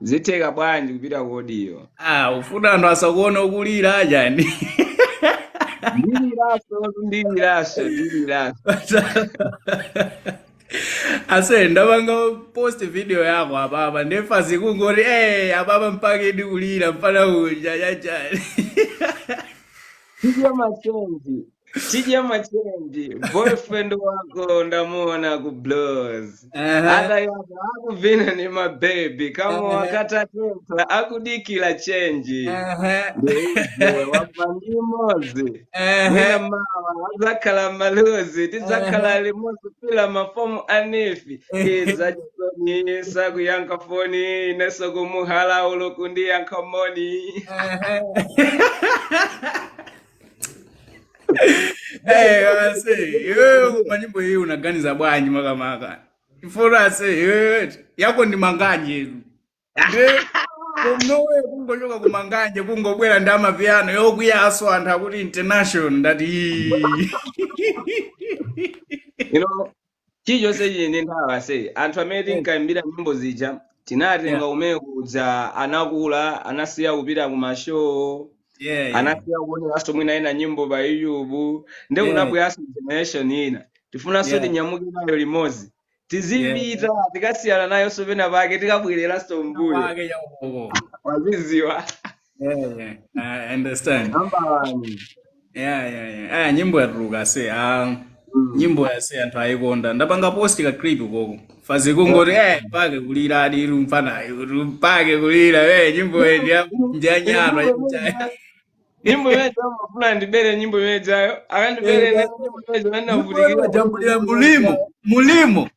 zitheka bwanji kupita ku audio ah ufuna anthu asakuone ukulira ajani ndiliraso ndiliraso ndiliraso ase ndapanga post video yako apapa nde mafans kungoti eh apapa mpaka adikulira mfana uja chachani video machozi Tija Machenji, boyfriend wako ndamuona ku blows. Ehe, Ada yaba akuvina ni mabebi kama ehe, wakata teta akudikila chenji. ehe, Ndeize wava ndi mozi. ehe, Mwina mawa azakhala maluzi ehe, tizakhala limozi kila mafomu anifi. ehe. Iza chisoni sakuyankha foni ineso kumuhala ulokundi yankha moni. Eh, ase iwewe koma nyimbo iyi unaganiza bwanji makamaka ifuti ase iwewe yako ndi manganje inu Eh, komano iwe kungochoka kumanganje kungobwera ndi amapiano yakuyaso anthu akuti international ndati ii. you know chilichonse chili ndi nthawi ase anthu amene Yes. tinkaimbira nyimbo zija Yeah. tinatenga kumene kuja anakula anasiya kupita ku mashow Yeah, yeah. anasiya kuoneranso mwina ena nyimbo pa youtube nde Yeah. kunabweranso generation ina tifunanso Yeah. tinyamuke nayo limodzi Yeah. tizipita tikasiyana nayonso pena pake tikabwererenso mbuyo Pake ya uko. waziziwa yeah, yeah. I understand. Ambalani. Yeah, yeah, yeah. Aya nyimbo yatuluka ase. Ah, Mm. nyimbo ya ase anthu ayikonda. Ndapanga post ka clip koko. Mafans kungoti eh pake kuliradi mfana. Pake kulira eh nyimbo ye ndiya ndiya nyama yikuchaya. nyimbo imene amafuna ndibere nyimbo imenejayo akandibere nani nyimbo imene Nyimbo anavutikira kujambulira mulimo. Mulimo.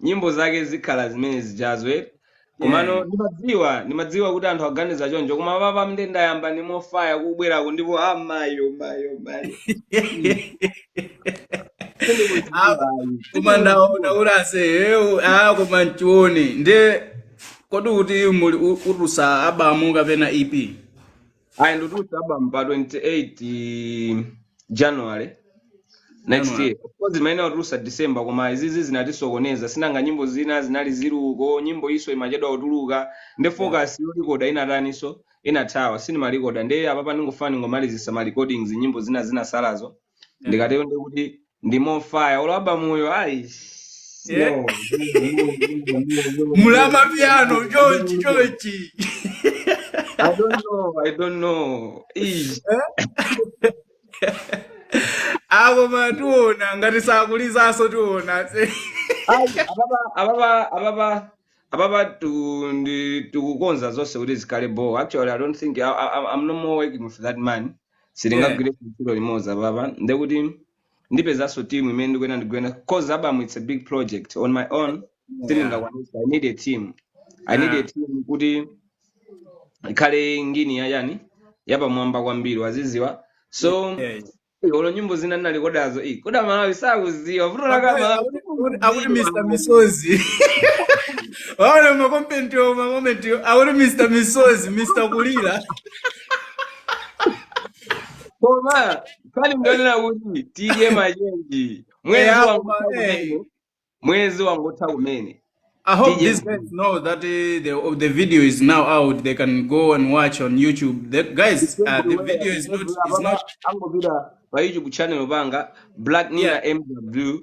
nyimbo zake zikhala zimene zijazo eti komano yeah. ndimadziwa ndimadziwa kuti anthu aganiza choncho koma apapa nde ndayamba ndi more fire kubwerako ndipo a mayo mayo mayo koma ndaona kuti ase iwe a koma ndione nde kodi kuti muli u- utulutsa album kapena ep ayi nditulutsa album pa 28 january next January. year of course imayenera kutulutsa december koma izizi zinatisokoneza sinanga nyimbo zina zinali ziluko nyimbo iso imachedwa kutuluka nde focus yolikoda inataniso inathawa sinimalikoda nde apapa ndingofuna ndingomalizisa ma recordings nyimbo zina zinasalazo ndikatero ndikuti ndi mofaya olo abamuyo aisi Yeah. yo mulama piano chonchi chonchi I don't know, I don't know. Ish. apo ma tiona ngati sakulizaso tiona se Ai, ababa ababa ababa ababa tu ndi tikukonza zonse kuti zikhale bo actually i don't think I, I, i'm no more working with that man sitingagwire ntchito limodzi apapa ndekuti ndipezanso team imene ndikuyenera ndigwire cause album it's a big project on my own sindingakwanisa i need a team i need a team kuti ikhale ngini ya chani yapamwamba kwambiri waziziwa so olo nyimbo zina ndinalikodazo iyi koma a malawi sakuziwa vuto lake amalawi akuti mr misozi waona makomentiwo makomentiwo akuti mr misozi mr kulira Koma pali mndonera kuti tidye machenji. Mwezi Eya, koma, wangotha eh. kumene. Mwezi wangotha kumene. I hope Tidye these guys know that uh, the oh, the video is now out. They can go and watch on YouTube. The guys, uh, the video is not is not angopita pa youtube channel panga black nina yeah. mw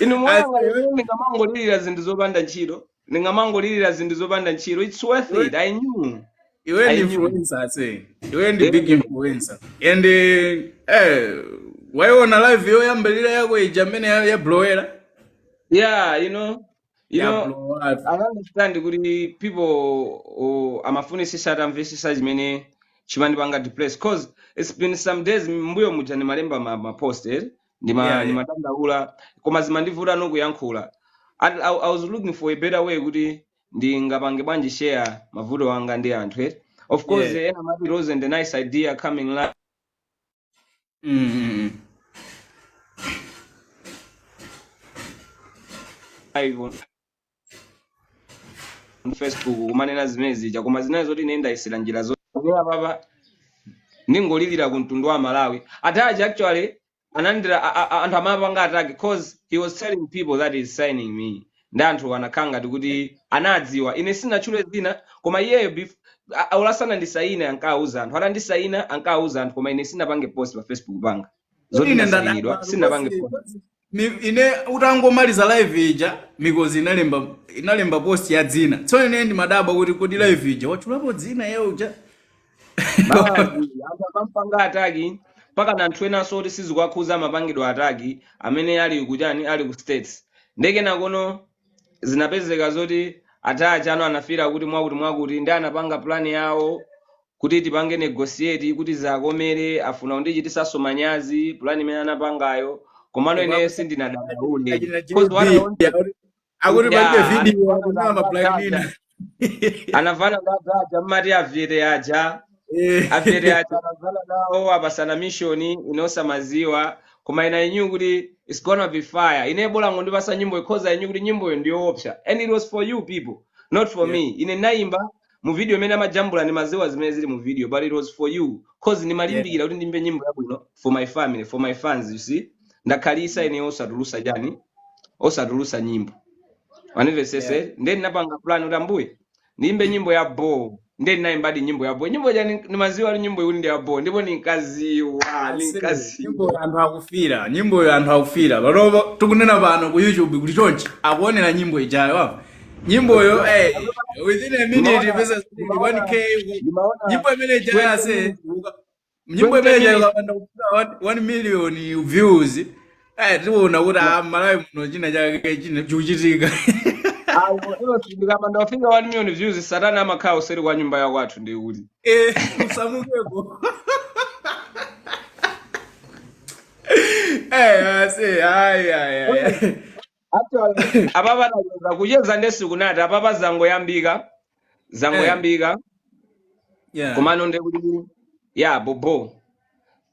Inu mwayang'ana Ase- ine ndingamangolirira zinthu zopanda ntchito. Ndingamangolirira zinthu zopanda ntchito. It's worth iwe it. I knew. iwe I ndi knew. influencer ase iwe ndi big Yeah. influencer and eh, eh wayiona live yoyambirira yako ija mmene ya- yablowera Yeah, you know. You know, yablowa I understand kuti people oh, amafunisisa atamvesesa chimene chimandipanga depress cause it's been some days mbuyo muja ndimalemba ma, ma post eh? ndima Yeah, yeah. ndimadandaula koma zimandivuta nkuyankhula At, I, I was looking for a better way kuti ndingapange bwanji share mavuto anga ndi anthu eh? of course Yeah. ena amati it wasn't a nice idea coming live Mm, mm, mm. live on mu facebook kumanena zimene zija koma zinali zoti ine ndayesera njira zonse apapa ndingolirira ku mtundu wa malawi atachi actually anandiuza a- a- a- anthu amapanga ataki cause he was telling people that he's signing me ndi anthu anakhala ngati kuti anadziwa ine sinatchule zina koma iyeyo bef- a- a- olasana andisayine ankawuza anthu atandisayina ankawuza anthu koma ine sinapange post pa facebook panga zoti ine ndadabwa ndasainidwa anthu sinapange kosi post mikozi Mi, ine utangomaliza live ija mikozi inalemba inalemba post ya dzina tsono ine ndimadabwa kuti kodi live ija watchulapo dzina yake uja basi anthu akampanga ataki mpaka ndi anthu enanso oti sizikuwakhuza amapangidwa ataki amene ali kuchani ali ku states nde kenakono zinapezeka zoti atachi ano anafila kuti mwakuti mwakuti ndi anapanga plan yawo kuti tipange negotiate kuti zakomere afuna kundichitisanso manyazi plan imene anapangayo komano Koma ineyo sindinadandaule achina cause what i JB wanted akuti palibe yeah video akunama anapanga black nina atachi anavana ndi aja mmati avyete aja Eh, avyete aja anavana nawo apasana mishoni ine osamaziwa koma ine I knew kuti it's gonna be fire ine bola ngondipasa nyimboyo cause I knew kuti nyimboyo ndiyoopsa and it was for you people not for yeah. me ine ndinayimba mu video imene amajambula ndimaziwa zimene zili mu video but it was for you cause Yeah. ndimalimbikira kuti ndiyimbe nyimbo yabwino for my family for my fans you see ndakhalisa ine osatulusa chani osatulusa nyimbo wandimvesesa yeah. nde ndinapanga plan kuti ambuye ndiyimbe nyimbo ya bo nde ndinayimbadi nyimbo ya bo nyimbo ja ndimaziwa kuti nyimbo iyi ndi ya bo ndipo ndinkaziwa Ase, ndinkaziwa nyimbo anthu akufira nyimboyo anthu akufira panopa tikunena pano ku youtube kuli chonchi akuonera nyimbo ijayo apa nyimboyo eh, within a minute ndimaona pesa ndimaona 1k ndimaona nyimbo imene ijayo 20 ase minutes uka- nyimbo imeneyi ikapanda kufika 1 million views eh tiona kuti a malawi muno chinachake china chikuchitika Ayi, iyo ndikapanda kufika 1 million views satana amakhala kuseri kwa nyumba ya kwathu ndi kuti eh usamukeko eh ase ai ai ai Actually, apapa tacheza kucheza nde sinkanati apapa zangoyambika eh zangoyambika yeah komano nde kuti ya bobo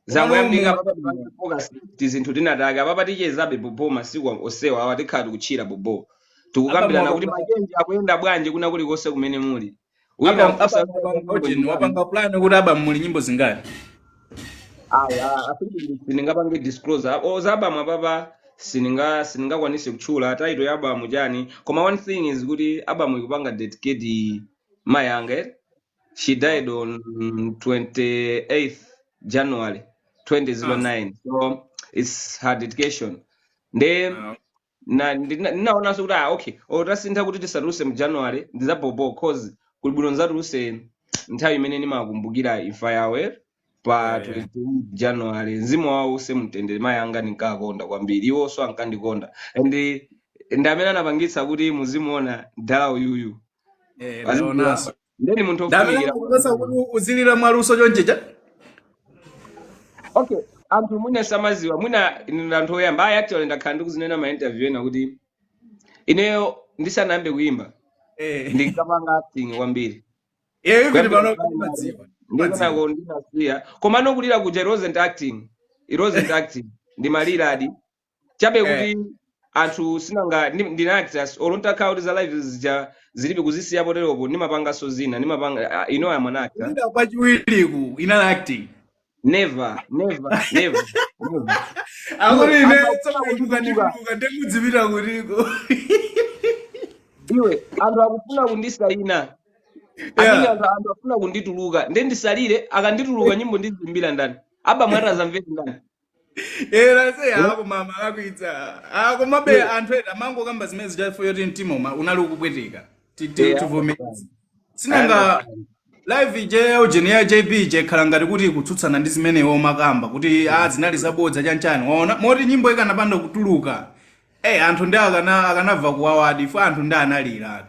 komano zangoyambika munthu apapa tipange bwino focus tizinthu tinatake apapa tichezabe bobo masiku onsewa awa tikhala tikutchira bobo apa tikukambirana kuti mwakambirana machenje akuyenda bwanji kwina kulikonse kumene muli Wina Apa mfusa mfusa anapanga wapanga nyimbo ujeni, zingati. wapanga plan kuti album ili nyimbo zingati. Ayi, a- afike ndi sindingapange disclose. A- za album apapa sininga siningakwanise kutchula title ya album chani. Koma one thing is kuti album ikupanga dedicate mayi anga. eh? She died on 28th January 2009. So it's her dedication. Nde Ah. na ndina- ndinaonanso kuti ah, okay olo tasintha kuti tisatuluse mu january ndi za bobo cause kuli bwino nzatuluse nthawi imene ndimakumbukira imfa yawo eh, pa yeah, yeah. 28 january mzimu wawo uuse mu mtendere mayi anga ndinkakonda kwambiri iwonso ankandikonda and ndi amene anapangitsa kuti muzimuona mdala uyuyu Eh, azikula ndaonanso ndeni munthu ndamene ofunikira akupatsa kuti uzilira mwaluso chonchicha okay anthu mwina samaziwa mwina ine anthu oyamba ayi actually ndakhala ndikuzinena ma interview ena kuti ineyo ndisanayambe kuyimba Eh. ndinkapanga acting kwambiri iyeyo kuti kuyambira pano primary mumadziwa mumadziwa ndi kunoko ndinasiya komano kulira kuja it wasn't acting it wasn't acting ndimaliradi chabe Eh. kuti anthu sinanga ndi- ndi ma actors olo atakhala kuti za live zija zili pa kuzisiya poteropo ndimapanganso zina ndimapanga ah, you know I'm an actor Kulira kwa chiwiriku inali acting. never never never never Akuti Iwe, ine anthu tsoka akufuna kutuka. ndikutuka ndikudzipita kutiko. iwe anthu akufuna kundisayina amene Yeah. anthu anthu akufuna kundituluka nde ndisalire akandituluka nyimbo ndizimbira ndani album yo ati azamvera ndani Era se Eh? koma mumalakwitsa komabe Iwe. anthu ena amangokamba zimene zija chifukwa choti mtima uma- unali ukupweteka Ti- ti- Eh, I understand. tivomereze I understand. sinanga live ija ya ujeni ya jb ija ikhala ngati kuti ikutsutsana ndi zimene iwo amakamba kuti a zinali zabodza chanchani waona moti nyimbo ikanapanda kutuluka Eh, anthu ndi akana akanamva kuwawadi ife anthu ndi analiratu.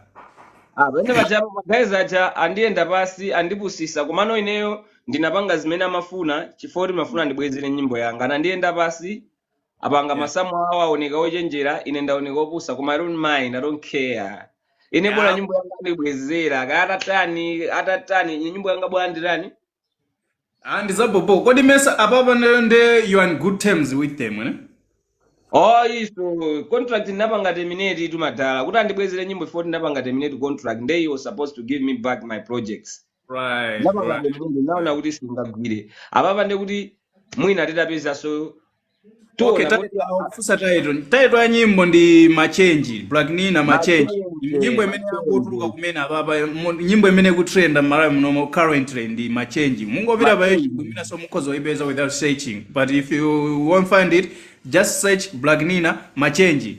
Ah, pamene pajapo magazi aja andiyenda pasi andipusisa komano ineyo ndinapanga zimene amafuna chifukwa choti ndimafuna andibwezere nyimbo yanga anandiyenda pasi apanga Yeah. masamu awo aoneka ochenjera ine ndaoneka opusa koma i don't mind i don't care ine bola Yeah. nyimbo yanga andibwezera kaya atatani atatani nyimbo yanga bola ndilandire Ah, ndizabobo. Kodi mesa apapa nde you are on good terms with them, eh? Oh, iso contract ndinapanga terminate tu madala kuti andibwezere nyimbo ife poti ndinapanga terminate contract nde they were supposed to give me back my projects Right, ndinapanga right. terminate ndinaona kuti sindingagwire apapa nde kuti mwina titapezanso okay tiona kuti title akufunsa title title ya nyimbo ndi machenji black nina machenji machenji nyimbo imene ikutuluka machenji kumene apapa mu- nyimbo imene ikutrenda mmalawi munomo currently ndi machenji mungopita pa youtube machenji imenenso mukhoza kuipeza without searching but if you won't find it just search black nina machenji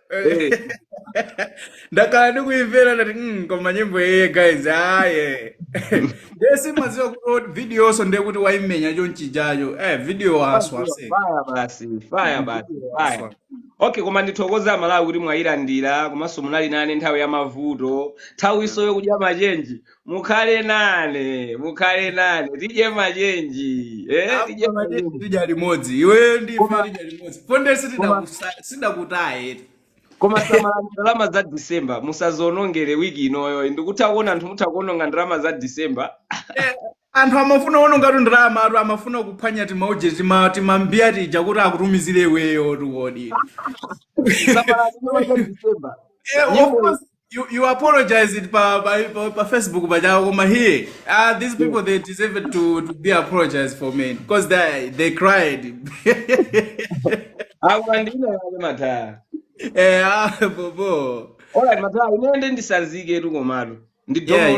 Eh, ndakhala ndikuimvera ndati mm, koma nyimbo iye guys aye ndiye sindimadziwa kuti video yonso ndiye kuti waimenya chonchijacho eh video waswa Maziwa ase fire basi, fire mm, basi, video fire. waswa Okay, koma ndithokoza aMalawi kuti mwayilandira komanso munali nane nthawi ya mavuto. Nthawi yeah. inoyo yokudya machenji. mukhale nane mukhale nane tidye machenji eh Apo tidye machenji machenji tidya limodzi iweyo ndi ife koma tidya limodzi ponde koma sitidakusa- sidakutaye eti koma samalani ndalama za december musazionongere wiki inoyo ndikutha kuona anthu mutha kuononga ndalama za december Eh, anthu amafuna ononga ndalama anthu amafuna kuphwanya timauje timambiya tija kuti akutumizire iweyo tiwodi samalani ndalama za december Eh, of nyimbo course You, you apologize it pa, pa, pa, pa Facebook but I come here. Ah, these Yeah. people they deserve it to, to be apologized for me because they they cried. Awa ndine wale mataya. eh, ah, bobo. Alright mataya, unaende ndisanzike tu komatu. Yeah, Ndidomolo